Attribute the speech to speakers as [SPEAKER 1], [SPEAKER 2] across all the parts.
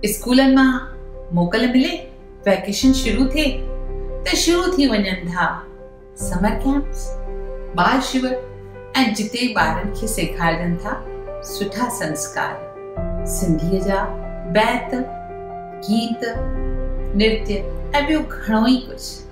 [SPEAKER 1] اسڪولن مان موڪل ملي ويڪيشن شروع ٿئي ته شروع ٿي وڃن ٿا سمر ڪيمپس ٻال شور ۽ جتي ٻارن کي سيکارجن ٿا سٺا سنسڪار سنڌيء جا بيت گيت نرتي ۽ ٻيو گهڻو ئي ڪجهه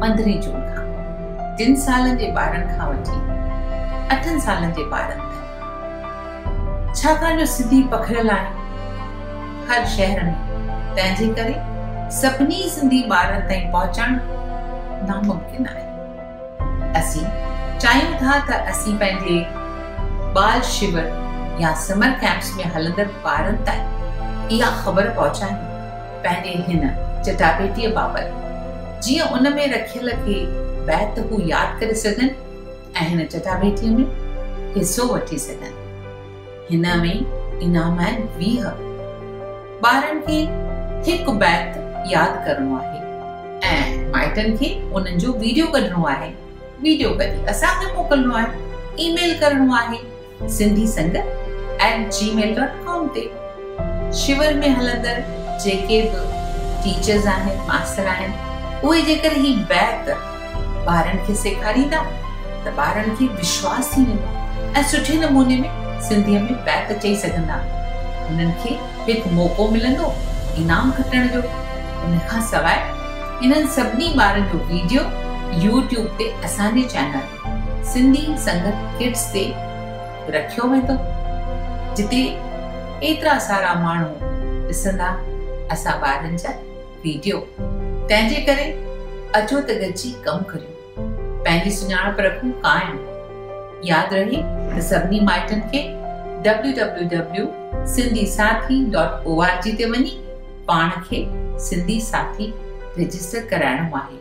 [SPEAKER 1] پندرهين جون کان ٽن سالن جي ٻارن کان وٺي اٺن سالن جي ٻارن تائين ڇاڪاڻ جو سنڌي پکڙيل آهن هر شهر ۾ تنهن جي ڪري سڀني سنڌي ٻارن تائين پهچڻ ناممڪن آهي اسين چاهيون ٿا ته اسين پنهنجي ٻال شور يا سمر ڪيمپس ۾ هلندڙ ٻارن تائين اها خبر پهچايون پنهنجي هن چٽاڀيٽيء بابت، جيئن ان ۾ رکيل ڪي بيت هو ياد ڪري سگهن ۽ هن چٽاڀيٽيء ۾ حصو وٺي سگهن. هن ۾ انعام آهن ويهه. ٻارن کي هڪ بيت ياد ڪرڻو آهي ۽ مائٽن کي انهن جو ويڊيو ڪڍڻو آهي. ويڊيو ڪڍي اسان کي موڪلڻو آهي، اي ميل ڪرڻو آهي. سنڌي سنگت ائٽ جي ميل ڊاٽ ڪام تي شور ۾ هلندڙ جيڪي به ٽيچرز آهن ماستر آهن اهي جيڪر هي بيت ٻارن کي سيکاريندا ته ٻارن کي وشواس ٿي ويندو ۽ سٺي نموني ۾ سنڌي ۾ بيت چئي سگهندا انهن کي هڪ موقعو ملندو انعام کٽڻ جو ان کان سواء انهن سڀني ٻارن جو ويڊيو يوٽيوب تي اسان جي چينل سنڌي سنگت ڪٽس تي رکيو ويندو جتي ايترا سارا ماڻهو ڏسندا اسان ٻارن جا ويڊيو تنهن جي ڪري اچو ته گڏجي ڪم ڪريون پنهنجي سڃاڻپ رکون قائم ياد رهي ته سڀني مائٽن کي www.sindhisathi.org تي وڃي پاڻ کي سنڌي ساٿي رجسٽر ڪرائڻو آهي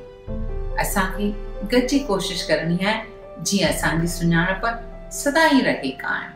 [SPEAKER 1] اسان کي گڏجي ڪوشش ڪرڻي آهي جيئن اسان جي سڃاڻپ سدا ئي رهي قائم.